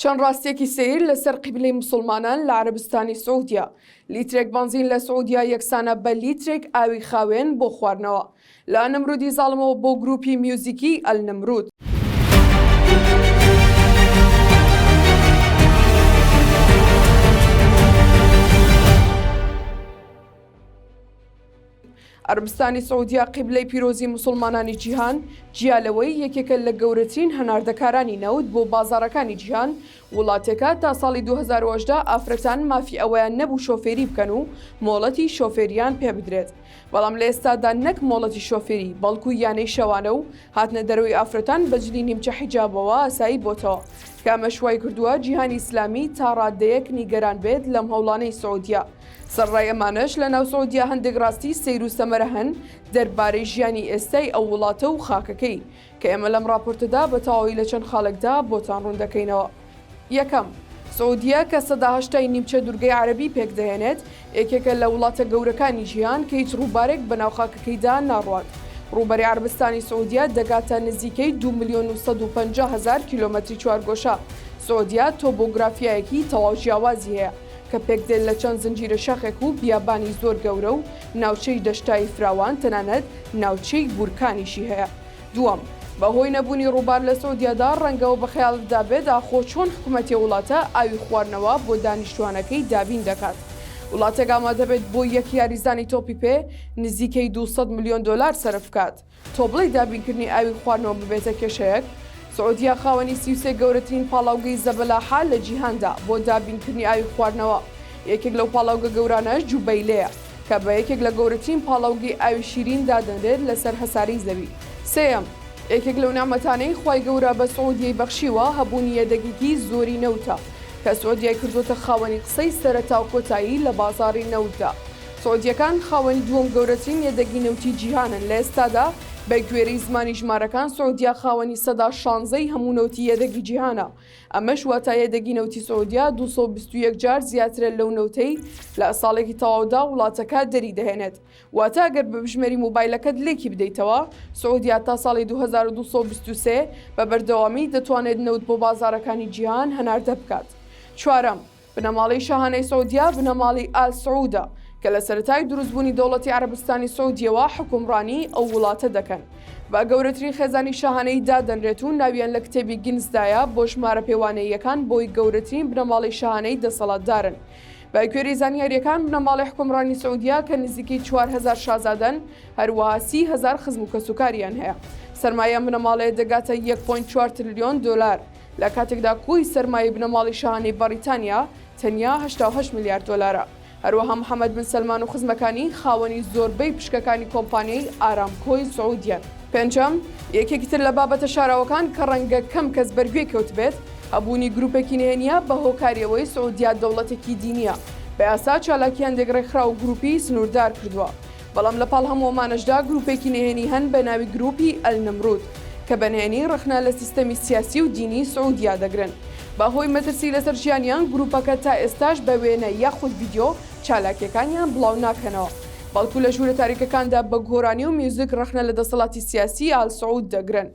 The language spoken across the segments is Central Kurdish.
چەند ڕاستیەکی سەیر لەسەر قیبلەی موسڵمانان لە عەرەبستانی سعودیە، لیترێک بەنزین لە سعودیە یەکسانە بە لیترێک ئاوی خاوێن بۆ خواردنەوە. لە ئەلنەمرودی زاڵمەوە بۆ گروپی میوزیکی ئەلنەمرود. عەرەبستانی سعودیە قیبلەی پیرۆزی موسڵمانانی جیهان، جیا لەوەی یەکێکە لە گەورەترین هەناردەکارانی نەوت بۆ بازاڕەکانی جیهان، وڵاتەکە تا ساڵی دوو هەزار و هەژدە ئافرەتان مافی ئەوەیان نەبوو شۆفێری بکەن و مۆڵەتی شۆفێرییان پێ بدرێت، بەڵام لە ئێستادا نەک مۆڵەتی شۆفێری، بەڵکو یانەی شەوانە و هاتنە دەرەوەی ئافرەتان بە جلی نیمچە حیجابەوە ئاسایی بۆتەوە، کە ئەمەش وایکردووە جیهانی ئیسلامی تا ڕاددەیەک نیگەران بێت لەم هەوڵانەی سعودیە. سەرەڕای ئەمانەش لە ناو سعودیە هەندێک ڕاستی سەیر و سەمەرە هەن دەربارەی ژیانی ئێستای ئەو وڵاتە و خاکەکەی کە ئێمە لەم ڕاپۆرتەدا بە تەواوی لە چەند خالەکدا بۆتان ڕوون دەکەینەوە. یەکەم، سعودیە کە سەدا هەشتای نیمچە دورگەی عەرەبی پێک دەهێنێت، یەکێکە لە وڵاتە گەورەکانی جیهان کە هیچ ڕووبارێک بە ناو خاکەکەیدا ناڕوات. ڕووبەری عەرەبستانی سعودیە دەگاتە نزیکەی دوو ملیۆن و سەد و پەنجا هەزار کیلۆمەتری چوارگۆشە. سعودیە تۆبۆگرافیایەکی تەواو جیاوازی هەیە. کە پێکدێن لە چەند زنجیرە شاخێک و بیابانی زۆر گەورە و ناوچەی دەشتایی فراوان تەنانەت ناوچەی بورکانیشی هەیە دووەم بەهۆی نەبونی ڕوبار لە سعودیەدا ڕەنگە وە بەخەیاڵتدا بێت ئاخۆ چۆن حکومەتی وڵاتە ئاوی خواردنەوە بۆ دانیشتوانەکەی دابین دەکات وڵاتێک ئامادەبێت بۆ یەک یاریزانی تۆپی پێ نزیکەی دوو سەد ملیۆن دۆلار سەرف بکات تۆ بڵێی دابینکردنی ئاوی خواردنەوە ببێتە کێشەیەک؟ سعودیە خاوەنی سی و سێ گەورەترین پاڵاوگەی زەبەلاحە لە جیهاندا بۆ دابینکردنی ئاوی خواردنەوە، یەکێک لەو پاڵاوگە گەورانەش جوبەیلەیە کە بە یەکێک لە گەورەترین پاڵاوگەی ئاوی شیرین دادەنرێت لەسەر هەسارەی زەوی. سێیەم، یەکێک لەو نیعمەتانەی خوای گەورە بە سعودیەی بەخشیوە هەبوونی یەدەگێکی زۆری نەوتە کە سعودیەی کردۆتە خاوەنی قسەی سەرەتا و کۆتایی لە بازاڕی نەوتدا، سعودییەکان خاوەنی دووەم گەورەترین یەدەگی نەوتی جیهانن، لە ئێستادا بە گوێرەی زمانی ژمارەکان سعودیە خاوەنی سەدا شانزە ی هەموو نەوتی یەدەگی جیهانە، ئەمەش واتا یەدەگی نەوتی سعودیە دوو سەد و بیست و یەک جار زیاترە لەو نەوتەی لە ساڵێکی تەواودا وڵاتەکە دەری دەهێنێت، واتا ئەگەر بە بژمێری مۆبایلەکەت لێکی بدەیتەوە سعودیە تا ساڵی دوو هەزار و دوو سەد و بیست و سێ بە بەردەوامی دەتوانێت نەوت بۆ بازاڕەکانی جیهان هەناردە بکات. چوارەم. بنەماڵەی شاهانەی سعودیە بنەماڵەی ئال سعودە کە لە سەرەتای دروستبوونی دەوڵەتی عەرەبستانی سعودیەوە حوکمڕانیی ئەو وڵاتە دەکەن، بە گەورەترین خێزانی شاهانەیی دادەنرێت و ناویان لە کتێبی گینسدایە بۆ ژمارە پێوانەییەکان بۆی گەورەترین بنەماڵەی شاهانەیی دەسەڵاتدارن. بە کوێری زانیارییەکان بنەماڵەی حوکمڕانی سعودیە کە نزیکەی چوار هەزار شازادەن، هەروەها سی هەزار خزم و کەسوکاریان هەیە. سەرمایەی ئەم بنەماڵەیە دەگاتە یەک پۆینت چوار ترلیۆن دۆلار. لە کاتێکدا کۆی سەرمایەی بنەماڵەی شاهانەی بەڕیتانیا تەنیا هەشتا و هەشت ملیار دۆلارە. هەروەها محەمەد بن سەلمان و خزمەکانی خاوەنی زۆربەی پشکەکانی کۆمپانیای ئارامکۆی سعودیەن. پێنجەم، یەکێکی تر لە بابەتە شاراوەکان کە ڕەنگە کەم کەس بەرگوێی کەوتبێت، هەبوونی گروپێکی نهێنییە بە هۆکاری ئەوەی سعودیا دەوڵەتێکی دینییە، بە یاسا چالاکییان دێک ڕێکخراو و گروپی سنوردار کردووە. بەڵام لە پاڵ هەموو ئەمانەشدا گروپێکی نهێنی هەن بە ناوی گروپی ئەلنمرود کە بە نهێنی ڕەخنە لە سیستەمی سیاسی و دینی سعودیا دەگرن بە هۆی مەترسی لەسەر ژیانیان گروپەکە تا ئێستاش بە وێنە یاخود ڤیدیۆ چالاکیەکانیان بڵاو ناکەنەوە بەڵکو لە ژورە تاریکەکاندا بە گۆرانی و میوزک ڕەخنە لە دەسەڵاتی سیاسی ئال سعود دەگرن.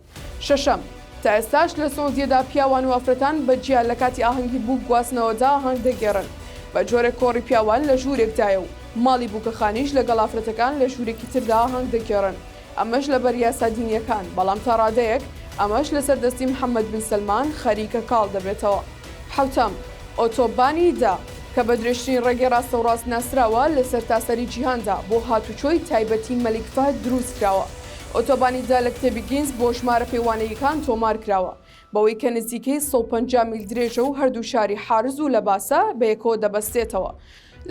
شەشەم، تا ئێستاش لە سعودیەدا پیاوان و ئافرەتان بە جیا لە کاتی ئاهەنگی بووک گواستنەوەدا ئاهەنگ دەگێڕن، بە جۆرێک کۆڕی پیاوان لە ژوورێکدایە و ماڵی بووکەخانەیش لەگەڵ ئافرەتەکان لە ژوورێکی تردا ئاهەنگ دەگێڕن، ئەمەش لەبەر یاسا دینیەکان، بەڵام تا ڕادەیەک ئەمەش لەسەر دەستی محەمەد بن سەلمان خەریکە کاڵ دەبێتەوە. حەوتەم، ئۆتۆ بانی دا، کە بە درێژترین ڕێگەی ڕاستەوڕاست ناسراوە لە سەرتاسەری جیهاندا، بۆ هاتوچۆی تایبەتی مەلیک فەهد درووست کراوە، ئۆتۆبانی دالک تێبیگینز بۆ ژمارە پێوانەییەکان تۆمار کراوە. بەوەی کە نزیکەی سەد و پەنجا میل درێژە و هەردوو شاری حارز و لەباسە بەیەکەوە دەبەستێتەوە،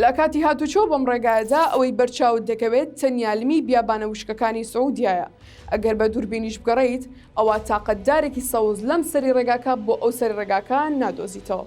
لە کاتی هاتوچۆ بەم ڕێگایەدا ئەوەی بەر چاوت دەکەوێت تەنیا لمی بیابانە وشکەکانی سعودیایە. ئەگەر بە دووربینیش بگەڕێیت، ئەوا تاقە دارێکی سەوز لەم سەری ڕێگاکە بۆ ئەو سەری ڕێگاکە نادۆزیتەوە.